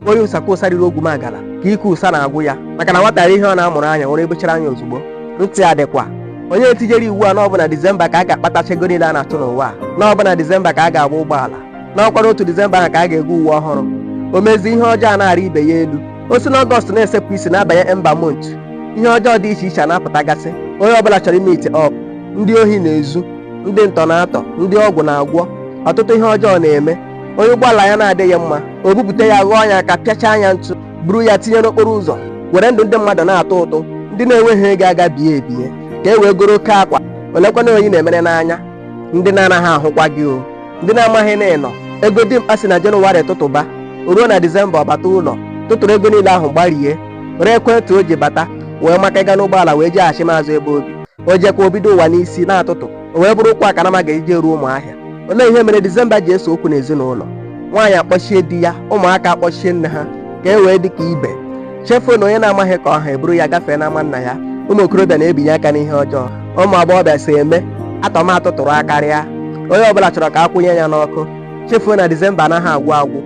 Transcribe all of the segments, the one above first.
onye ụsa ka ụsa riri ogwumagala ka ike ụsa na-agwụ ya maka na nwata rie ihe ọ na-amụrụ anya ụra ebechara ya ozugbo ntị adịkwa onye tijere iwu a na ọ bụ na disemba ka a ga-akpatacha ego niile a na-achụ n'ụwa a na ọ bụ na disemba ka a ga-agba ụgbọala n'ọkwara otu disemba ahụ ka a ga-ego uwe ọhụrụ o mezi ihe ọjọọ na-arị ibe ya elu o si n'ọgọst na-esepụ isi na-abanye emba mont ihe ọjọọ dị iche iche a na-apụtagasị onye ọbụla chọrọ ịmeet up ndị ohi na-ezu ndị ntọ na-atọ ndị ọgwụ na-agwọ ọtụtụ ihe ọjọọ na-eme onye ụgbọala ya na-adịghị mma o bupụta ya ghọọ ya aka pịachaa ya ntụ buru ya tinye n'okporo ụzọ were ndụ ndị mmadụ na-atụ ụtụ ndị na-enweghị ego aga bie ebie ka e wee goro oke akwa olekwana onye ị na-emere n'anya ndị na-anaghị ahụkwa gị o ndị na-amaghị na ị nọ ego dimkpa si na jenụwarị tụtụba o ruo na disemba ọ bata ụlọ tụtụrụ ego niile ahụ gbarie ree ekwentị o ji bata wee maka ịga n'ụgbọala wee jeghachi azụ ebe o bi o jekwa o bido ụwa n'isi na-atụtụ o wee bụrụ ụkwụ a ka nama ga-eji eru ụmụahịa olee ihe mere disemba ji ese okwu n'ezinụlọ nwaanyị akpọchie di ya ụmụaka akpọchie nne ha ka e wee dị ka ibe chefuo na onye na-amaghị ka ọ ha eburu ya gafee n'ama nna ya ụmụ okorobịa na-ebinye aka n'ihe ọjọọ ụmụ agbọghọbịa si eme atọma atụtụrụ akarịa onye ọbụla chọrọ ka a kwụnye ya n'ọkụ chefuo na disemba anaghị agwụ agwụ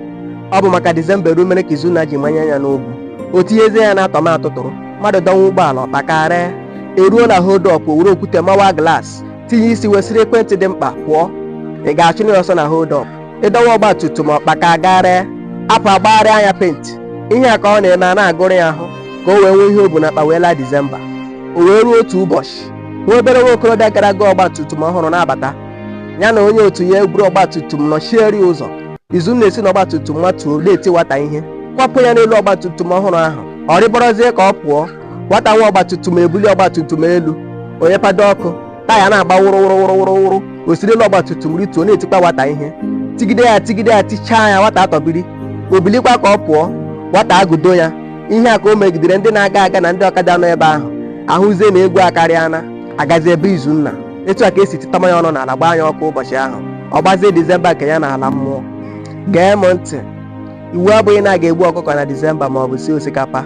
ọ bụ maka disemba eru mere ka izunna ji manye ya n'ogwu o tinyezie ya na atọma atụtụrụ mmadụ dọnwa ụgbọala ọ kpakarịa eruo na hold up o were okwute mawa glaasị tinye isi wesịrị ekwentị dimkpa pụọ ị ga-achụ ya ọsọ na hold up ị dọwa ọgba tum tum ọ kpakarịa apụ agbagharịa ya penti ihe a ka ọ na-eme a na-agụrụ ya ahụ ka o wee nwee ihe o bu na akpa wee laa disemba o wee ruo otu ụbọchị nwa obere nwa okorobịa gara goo ọgba tum tum ọhụrụ na-abata ya na onye otu ya eburu ọgba tum tum nọchieri ụzọ izunna esi na ọgba tum tum matuo na-eti nwata ihe kwapụ ya n'elu ọgba tum tum ọhụrụ ahụ ọ rịbọrọzie ka ọ pụọ nwata nwe ọgbatumtum ebuli ọgbatumtum elu nye pedal ọkụ taya na-agba wụrụ wụrụ wụrụ wụrụ wụrụ o siri elu ọgbatumtum rituo na-etikwa nwata ihe tigide ya tigide ya tichaa ya nwata atọbiri o bilikwa ka ọ pụọ nwata agụdo ya ihe a ka o megidere ndị na-aga aga na ndị ọkada nọ ebe ahụ ahụzie na egwu akarịana agazi ebe izunna etu a ka e si titama ya ọnụ n'ala gbaa ya ọkụ ụbọchị ahụ ọ gbazie dizemba nke ya na ala mmụọ gee m ntị iwu abụghị na a ga-egbu ọkụkọ na disemba ma ọ bụ sie osikapa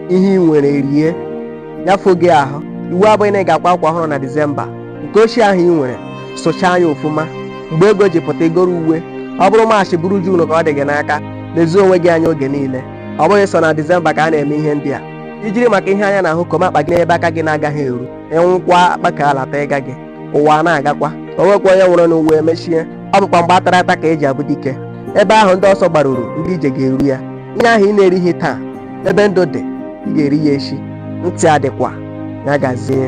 ihe ị nwere rie nyafụ gị ahụ iwu abụghị na ị ga-akwa akwa ọhụrụ na disemba nke ochie ahụ ị nwere sụchaa ya ofụma mgbe ego ji pụta i goro uwe ọ bụrụ maachị bụrụ juunu ka ọ dị gị n'aka lezie onwe gị anya oge niile ọ bụghị sọ na disemba ka a na-eme ihe ndị a i jiri maka ihe anya na-ahụ koma akpa gị n'ebe aka gị na-agaghị eru ị nwụkwa akpa ka alata ịga gị ụwa a na-agakwa o nwekwa onye nwụrụ n'ụwa emechie ọ bụkwa mgbe atara ata ka eji abụ dike ebe ahụ ndị ọsọ gbaruru ndị ije ga-eru ya ihe ahụ ị na-erighị taa ebe ndụ dị ị ga-eri ya echi ntị adịkwa ya gazie